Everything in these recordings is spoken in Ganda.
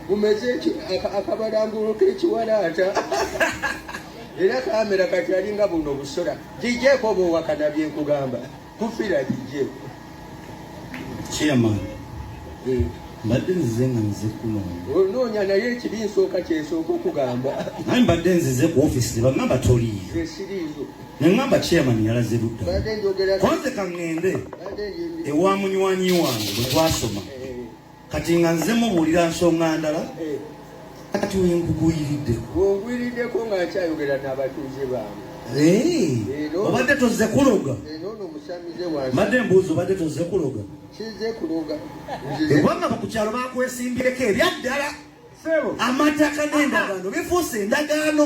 mumeze akabalangulo kekiwalaata era kamera kati alinga buno obusora gijeeko oba owakana byenkugamba kufira gijeeko chairman eh. mbadde nzize nga nze kunoonya onoonya naye ekibi nsooka kyensooka okugamba naye mbadde nzize ku ofisi nebagamba toliiyo esiriizo nengamba chairman yalaze luddakonze kaŋŋende ewa munywanyi wange bwe twasoma kati nga nze mubuulira nsonga ndala eh. kati wenkugwiridde wongwiriddeko nga nkyayogera n'abatuuze bange eh, obadde tozze kuloga eh, mbadde mbuuzi obadde tozze kuloga kubanga ku kyalo bakwesimbireko ebyaddala amataka n'endagaano bifuuse endagaano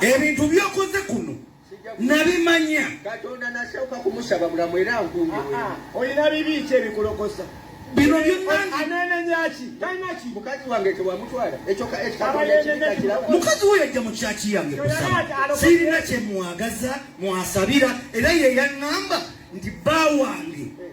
ebintu byokoze kuno nabimanya katonda nasooka kumusaba bulamu era nkumbye ah, ah. olina bibi ki ebikulokosa bino byonanenenaki talinaki mukazi wange tewamutwala mukazi we yajja mu kyaki yange kusaba sirina kyemwagaza mwasabira era yeyaŋŋamba nti bba wange eh.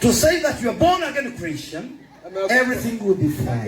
To say that you are born again Christian, everything will be fine.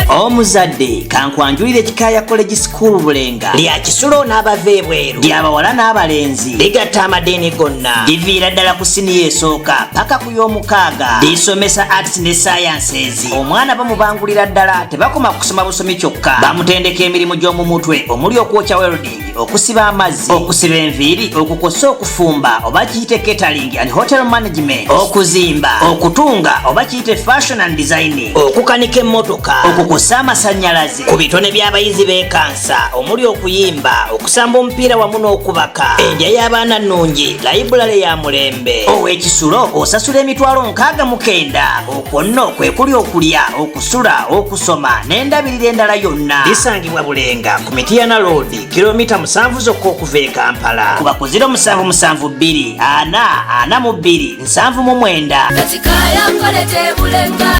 omuzadde kankwanjulire kikaaya college school bulenga lya kisulo n'abava ebweru lya bawala n'abalenzi ligatta amadiini gonna liviira ddala ku siniya esooka paka ku y'omukaaga lisomesa arts ne sciences omwana bamubangulira ddala tebakoma kusoma busomi kyokka bamutendeka emirimu gy'omu mutwe omuli okwokya weldi okusiba amazzi okusiba enviiri okukosa okufumba oba kiyite catering and hotel management okuzimba okutunga oba kiyite fashion and designing okukanika emmotoka okukosa amasannyalaze ku bitone by'abayizi bekansa omuli okuyimba okusamba omupiira wamu n'okubaka endya y'abaana nnungi layibulale ya mulembe ow'ekisulo osasula emitwalo nkaaga mukenda okwo nno kwe kuli okulya okusula okusoma n'endabirira endala yonna bisangibwa bulenga ku mitiyana loodi kilomita musanvu zokka okuva e kampala kuba ku ziro musanvu musanvu bbiri ana ana mu bbiri nsanvu mu mwenda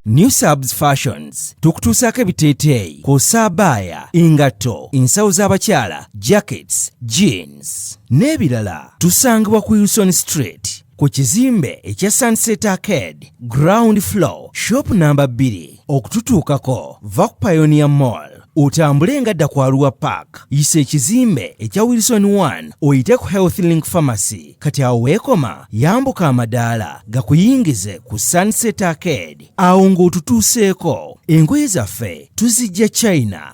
new subs fashions tukutuusaako ebiteeteeyi ku saabaaya engatto ensawo z'abakyala jackets jeans n'ebirala tusangibwa ku uson street ku kizimbe ekya Sunset Arcade ground floor shop namba 2 okututuukako va ku Pioneer Mall otambule nga dda ku Arua Park yisa ekizimbe ekya Wilson 1 oyite ku Health Link Pharmacy kati awo weekoma yambuka amadaala gakuyingize ku Sunset Arcade awo ng'otutuuseeko engoye zaffe tuzijja China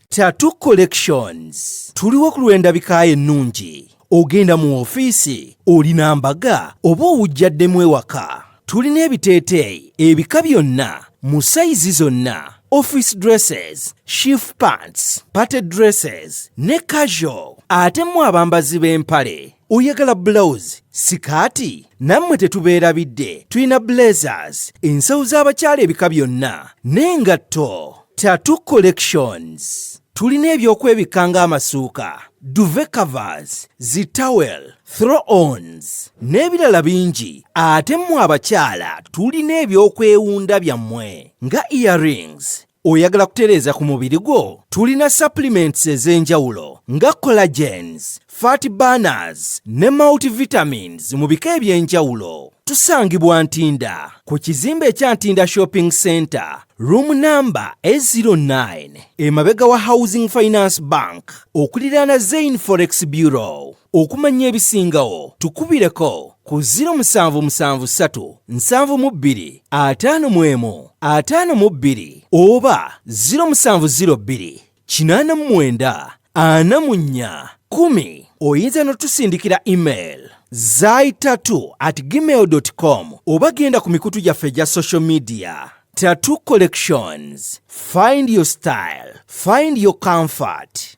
Tattoo Collections tuliwo ku lw'endabika ye ennungi ogenda mu ofiisi olina mbaga oba owujjaddemu ewaka tulina ebiteeteeyi ebika byonna mu sayizi zonna office dresses shift pants party dresses ne casual ate mu abambazi b'empale oyagala bulawuzi sikaati nammwe tetubeerabidde tulina blazers ensawo z'abakyala ebika byonna n'engatto tatu collections tulina ebyokwebikka ng'amasuuka duve covers zitawel throw ons n'ebirala bingi ate mmwe abakyala tulina ebyokwewunda byammwe nga earrings Oyagala kutereeza ku mubiri gwo? Tulina supplements ez'enjawulo nga collagens, fat burners ne multivitamins mu bika eby'enjawulo. Tusangibwa Ntinda ku kizimbe ekya Ntinda Shopping Center, room number A09, emabega wa Housing Finance Bank, okuliraana Zain Forex Bureau. Okumanya ebisingawo tukubireko ku 0773 oba 0702 oyinza n'otusindikira email zaitatu at gmail com oba genda ku mikutu gyaffe egya social media Tattoo Collections. Find your style, find your comfort.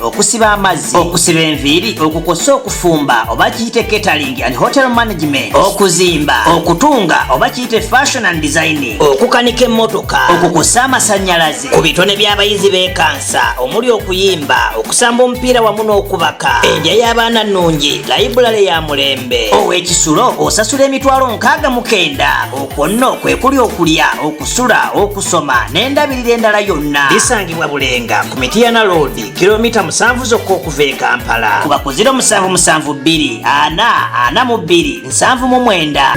okusiba amazzi okusiba enviiri okukosa okufumba oba kiyite catering and hotel management okuzimba okutunga oba kiyite fashion and designing okukanika emmotoka okukosa amasanyalaze ku bitone by'abayizi bekansa omuli okuyimba okusamba omupiira wamu n'okubaka endya y'abaana nnungi layibulale ya mulembe ow'ekisulo osasula emitwalo nkaaga mukenda okwo nno kwe kuli okulya kusula okusoma n'endabirira endala yonna bisangibwa bulenga ku mitiyana loodi kilomita musanvu zokka okuva e kampala kuba ku 0772 ana ana mu 2 nsanvu mu mwenda